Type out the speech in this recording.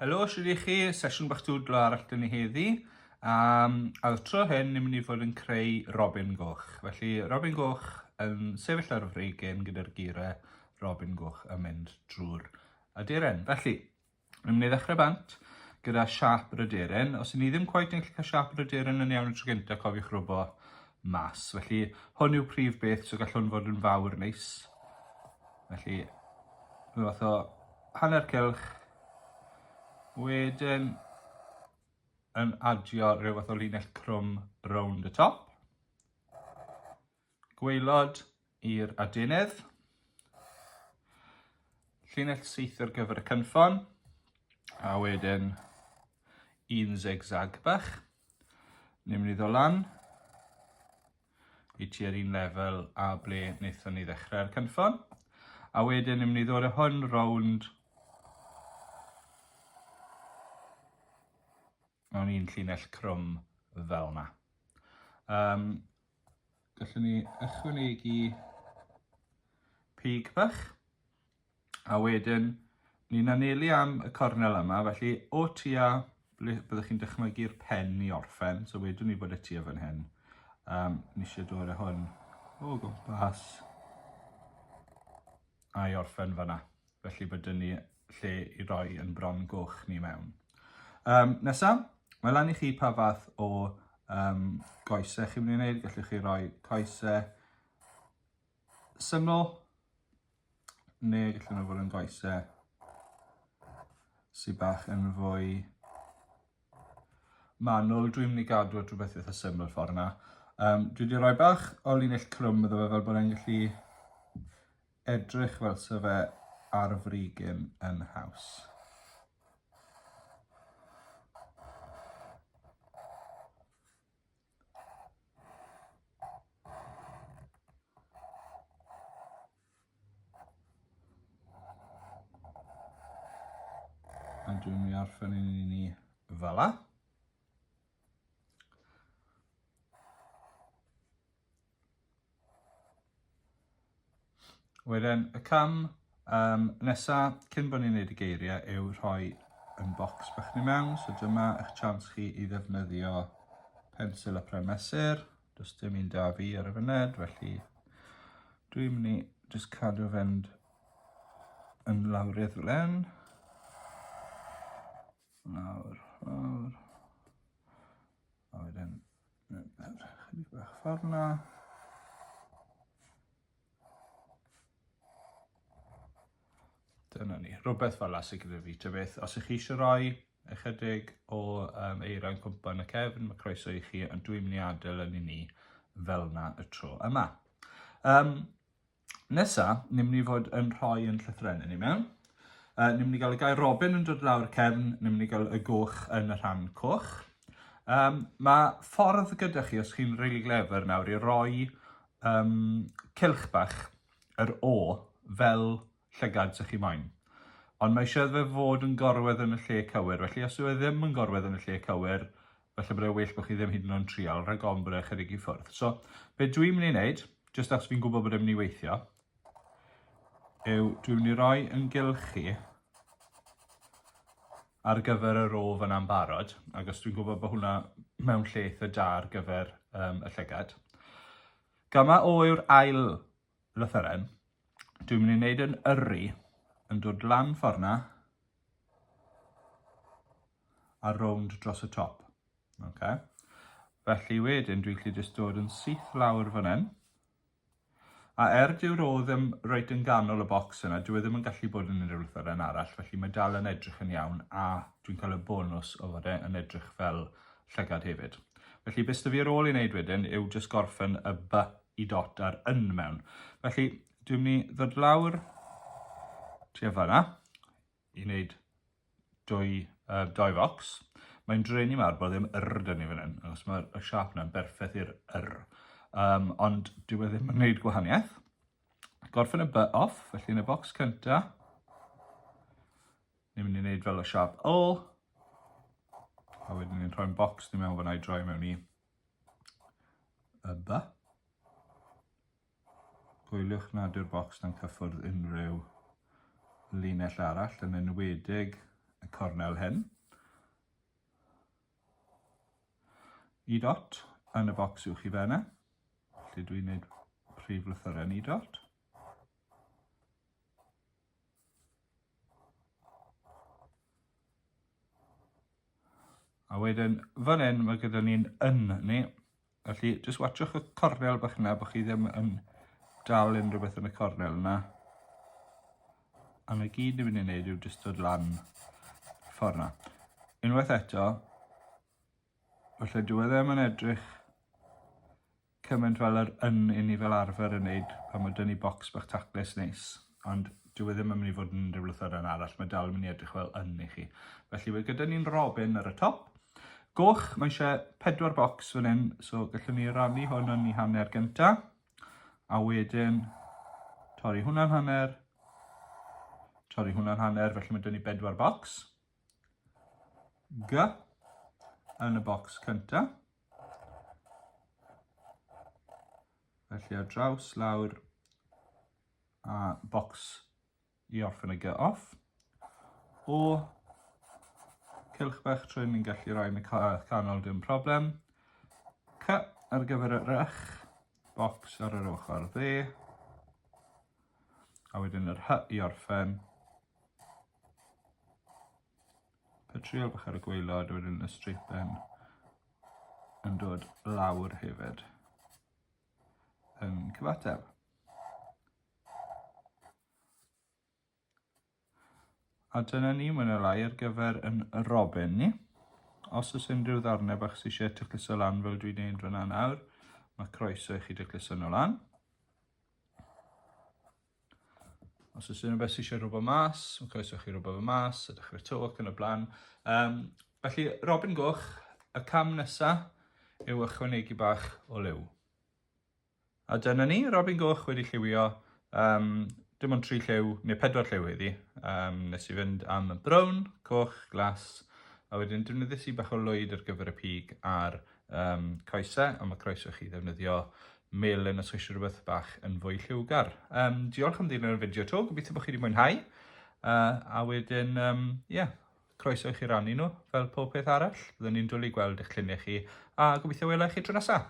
Helo, sydd i chi, sesiwn bach dwdlo arall dyn ni heddi. Um, a tro hyn, ni'n mynd i fod yn creu Robin Goch. Felly, Robin Goch yn sefyll ar y freigen gyda'r geirau Robin Goch yn mynd drwy'r aduren. Felly, Rwy'n mynd i ddechrau bant gyda siâp yr aderyn. Os ydyn ni ddim cweit yn gallu cael siâp yr aderyn yn iawn y tro gyntaf, cofiwch robo mas. Felly, hwn yw prif beth, so gall hwn fod yn fawr neis. Felly, rhywbeth fath o hanner cylch. Wedyn, yn adio rhywbeth o linell crwm rownd y top. Gwaelod i'r adenydd. Llinell syth ar gyfer y cynffon. A wedyn un zigzag bach. Ni'n mynd i ddod lan i tua'r un lefel a ble wnaethon ni ddechrau'r cynffon. A wedyn ni'n mynd i ddod â hwn rownd mewn un llinell crwm fel yna. Um, gallwn ni ychwanegu pig bach, a wedyn ni'n anelu am y cornel yma, felly o tua ble byddwch chi'n dychmygu'r pen i orffen, so wedwn ni bod y tua fan hyn. Um, ni eisiau dod â hwn o gwmpas a'i orffen fanna. Felly bod dyn ni lle i roi yn bron goch ni mewn. Um, nesa, mae lan i chi pa fath o um, goesau chi'n mynd i wneud. Gallwch chi roi coesau syml, neu gallwn nhw fod yn goesau sy'n bach yn fwy manwl. Dwi'n mynd i gadw at rhywbeth eitha syml ffordd yna. Um, dwi wedi rhoi bach o linell crwm iddo fe fel bod e'n gallu Edrych fel se fe ar frigyn yn haws. A dwi'n mynd i orffen i ni fel 'na. Wedyn y cam um, nesa cyn bod ni'n neud y geiriau yw rhoi yn bocs bach ni mewn. So dyma eich chance chi i ddefnyddio pensil a pren mesur. Does dim un da fi ar y fyned, felly dwi'n mynd i just cadw fynd yn lawrydd fel hyn. Lawr, lawr. A wedyn Chydig bach ffordd na. Dyna ni, rhywbeth fel la sy'n gyda fi, ta beth. Os ych chi eisiau rhoi ychydig o um, eira yn cwmpa yn y cefn, mae croeso i chi, ond dwi'n mynd i adael yn i ni fel na y tro yma. Um, Nesa, ni'n mynd i fod yn rhoi yn llythrennau ni mewn. Uh, ni'n mynd i gael y gair Robin yn dod lawr cefn, ni'n mynd i gael y goch yn y rhan coch. Um, mae ffordd gyda chi, os chi'n really clever nawr, i roi um, cilch bach yr O fel llygad sy'ch chi moyn. Ond mae eisiau fe fod yn gorwedd yn y lle cywir, felly os yw e ddim yn gorwedd yn y lle cywir, falle bod e'n well bod chi ddim hyd yn oed yn trial, rhag ofn bod e'n chydig i ffwrdd. So, be dwi'n mynd i wneud, jyst achos fi'n gwybod bod e'n mynd i weithio, yw dwi'n mynd i roi yn gylchu ar gyfer y rof yna'n barod, ac os dwi'n gwybod bod hwnna mewn lle eitha da ar gyfer um, y llygad. Gama o yw'r ail Lythyren. Dwi'n mynd i wneud yn yrru yn dod lan ffordd na a rownd dros y top. Okay. Felly wedyn dwi'n gallu jyst dod yn syth lawr fan hyn. A er dyw'r o ddim reit yn ganol y bocs yna, dwi e ddim yn gallu bod yn unrhyw lythyren arall, felly mae dal yn edrych yn iawn a dwi'n cael y bonus o fod e yn edrych fel llygad hefyd. Felly beth sydd fi ar ôl i wneud wedyn yw jyst gorffen y by y dot a'r yn mewn. Felly, dwi'n mynd i ddod lawr tua fanna i wneud dwy, uh, doi fox. Mae'n drenu mawr bod ddim yr da ni fan hyn, achos mae'r y siap yna'n berffaith i'r yr. Um, ond dwi wedi ddim yn gwneud gwahaniaeth. Gorffen y by off, felly yn y box cynta, ni'n mynd i wneud fel y siap ol, a wedyn ni'n rhoi'n box ni mewn fyna i droi mewn i y by. Gwyliwch nad yw'r bocs dan cyffwrdd unrhyw linell arall, yn enwedig y cornel hyn. Y dot yn y bocs uwch i fenna, lle dwi'n gwneud prif lythyrau ni dot. A wedyn, fan hyn, mae gyda ni'n yn ni. Felly, jyst watchwch y cornel bach yna, bod chi ddim yn dal unrhyw beth yn y cornel yna. A mae gyd ni'n mynd i wneud yw jyst dod lan ffordd yna. Unwaith eto, felly dwi e ddim yn edrych Cymaint fel yr un i ni fel arfer yn neud pan ma' dy'n ni bocs bach taclus neis, ond dyw e ddim yn mynd i fod yn unrhyw lythyren arall, mae dal yn mynd i edrych fel yn i chi. Felly mae gyda ni'n robin ar y top. Goch, mae eisiau pedwar bocs fan hyn, so gallwn ni rannu hwn yn i hanner gynta, a wedyn torri hwnna'n hanner, torri hwnna'n hanner, felly mae dyn ni bedwar bocs. G yn y bocs cynta. Felly ar draws lawr a bocs i orffen y gy off. O cylch bach trwy ni'n gallu rhoi yn y canol dim problem. Cy ar gyfer y rych, bocs ar yr ochr dde. A wedyn yr hy i orffen. Petrol bach ar y gwaelod a wedyn y straight pen yn dod lawr hefyd yn cyfateb. A dyna ni, mae'n y lai ar gyfer yn Robin ni. Os oes unrhyw ddarnau bach sy'n eisiau tycluso lan fel dwi'n neud fyna nawr, mae croeso i chi dycluso nhw lan. Os oes unrhyw beth sy'n eisiau rhywbeth mas, mae'n croeso chi rhywbeth fy mas, ydych chi'r tyw ac yn y blaen. Um, felly, Robin Goch, y cam nesaf yw ychwanegu bach o liw. A dyna ni, Robin Goch wedi lliwio um, dim ond tri lliw, neu pedwar lliw heddi. Um, nes i fynd am brown, coch, glas, a wedyn defnyddiais i bach o lwyd ar gyfer y pig a'r um, coesau, a mae croeso chi ddefnyddio melyn os chi eisiau rhywbeth bach yn fwy lliwgar. Um, diolch am ddilyn y fideo to, gobeithio bod chi wedi mwynhau. Uh, a wedyn, ie, um, yeah, croeso i chi rannu nhw fel pob peth arall. Byddwn ni'n dwlu gweld eich lluniau chi a gobeithio wela chi tro nesaf.